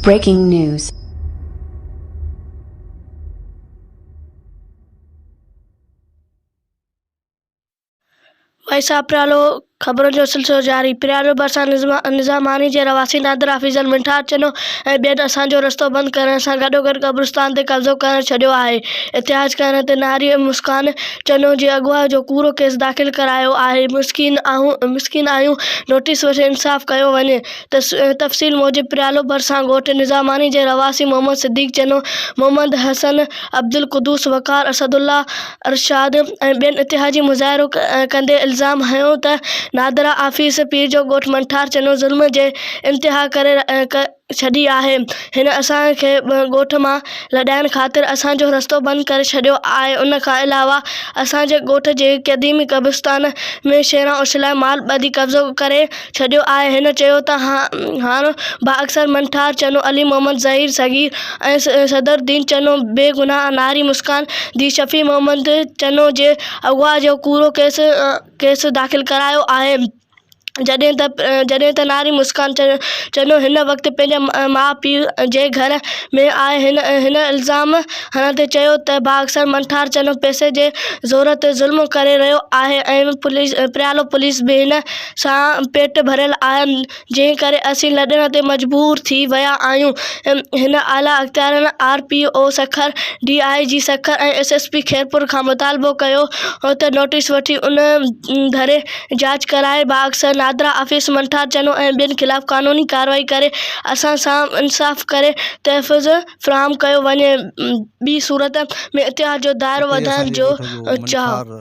Breaking news. وئيسا پريالو، خبرن جو سلسلو جاري، پريالو ڀرسان نظاماڻي جي رھواسي نادر حفيظ المنٽار چنو ۽ ٻين اسان جو رستو بند ڪرڻ سان گڏوگڏ قبرستان تي قبضو ڪرڻ ڇڏيو آھي، احتجاج ڪرڻ تي نھاري مسڪان چنو جي اغوا جو ڪوڙو ڪيس داخل ڪرايو آهي، مسڪين آهيون نوٽيس وٺي انصاف ڪيو وڃي، تفصيل موجب پريالو ڀرسان ڳوٺ نظاماڻي جي رهواسي محمد صديق چنو، محمد حسن، عبدالقدوس، وقار، اسدالله، ارشاد ۽ ٻين اتحادين مظاهرو ڪندي الزام هنيو ته نادرا آفيس پير جو ڳوٺ منٺار چنو ظلم جي انتها ڪري ڇڏي آهي هن اسان کي ڳوٺ مان لڏائڻ خاطر اسان جو رستو بند ڪري ڇڏيو آهي ان کان علاوه اسان جي ڳوٺ جي قديمي قبرستان ۾ شيران اوڇلائي مال ٻڌي قبضو ڪري ڇڏيو آهي هن چيو ته هاڻ بااثر منٺار چنو علي محمد ظهير صغير ۽ صدرالدين چنو بي گناهه ناري مسڪان ڌيء شفيع محمد چنو جي اغوا جو ڪوڙو ڪيس ڪيس داخل ڪرايو آهي جڏهن ته جڏهن ته ناري مسڪان چنو هن وقت پنهنجي ماء پيء جي گهر ۾ آهي هن الزام هڻندي چيو ته بااثر منٺار چنو پئسي جي زور تي ظلم ڪري رهيو آهي ۽ پريالو پوليس به هن سان پيٽ ڀريل آهي جنهن ڪري اسين لڏڻ تي مجبور ٿي ويا آهيون هن اعليٰ اختيارين R P O Sukkur D I G Sukkur ۽ S S P Khairpur کان مطالبو ڪيو ته نوٽيس وٺي ان ڌري جاچ ڪرائي باغ سر نادرا آفيس منٺار چنو ۽ ٻين خلاف قانوني ڪارروائي ڪري اسان سان انصاف ڪري تحفظ فراهم ڪيو وڃي ٻي صورت ۾ اتحاد جو دائرو وڌائڻ جو چاهه.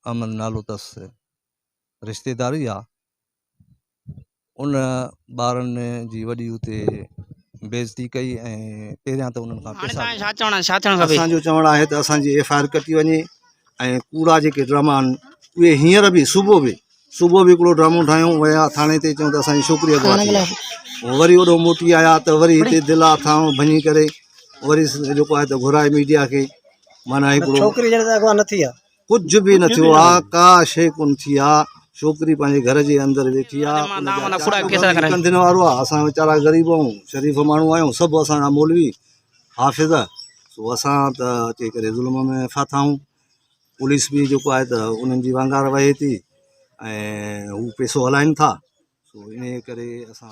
احمد نالو تس رشتيداري آ. ان ٻارن جي وڏي اتي بيعزتي ڪئي ۽ پهريان ته انهن کان پئسا هاڻي توهان کي ڇا چوڻ ڇا ٿيڻ کپي اسان جو چوڻ آهي ته اسان جي ايف آء آر ڪٽي وڃي ۽ ڪوڙا جيڪي ڊراما آهن اهي هينئر به صبح به صبح به هڪڙو ڊرامو ٺاهيون ويا ٿاڻي تي چون ته اسان جي ڇوڪري اغوا ٿي وئي پوء وري هوڏو موٽي آيا ته وري هتي دل اٿائون ڀڃي ڪري وري جيڪو آهي ته گهرائي ميڊيا کي معنيٰ هڪڙو ڇوڪري جڏهن ته اغوا نه ٿي آ ڪجهه به نه ٿيو آ ڪا شئي ڪونه ٿي آ ڇوڪري پنهنجي گهر جي اندر ويٺي آ ڪنڌين وارو آ اسان ويچارا غريب آهيون شريف ماڻهو آهيون سڀ اسان جا مولوي حافظ سو اسان ته اچي ڪري ظلم ۾ ڦاٿا آهيون پوليس به جيڪو آهي ته انهن جي وانگار وهي ٿي ۽ هو پيسو هلائين ٿا سو انهي ڪري اسان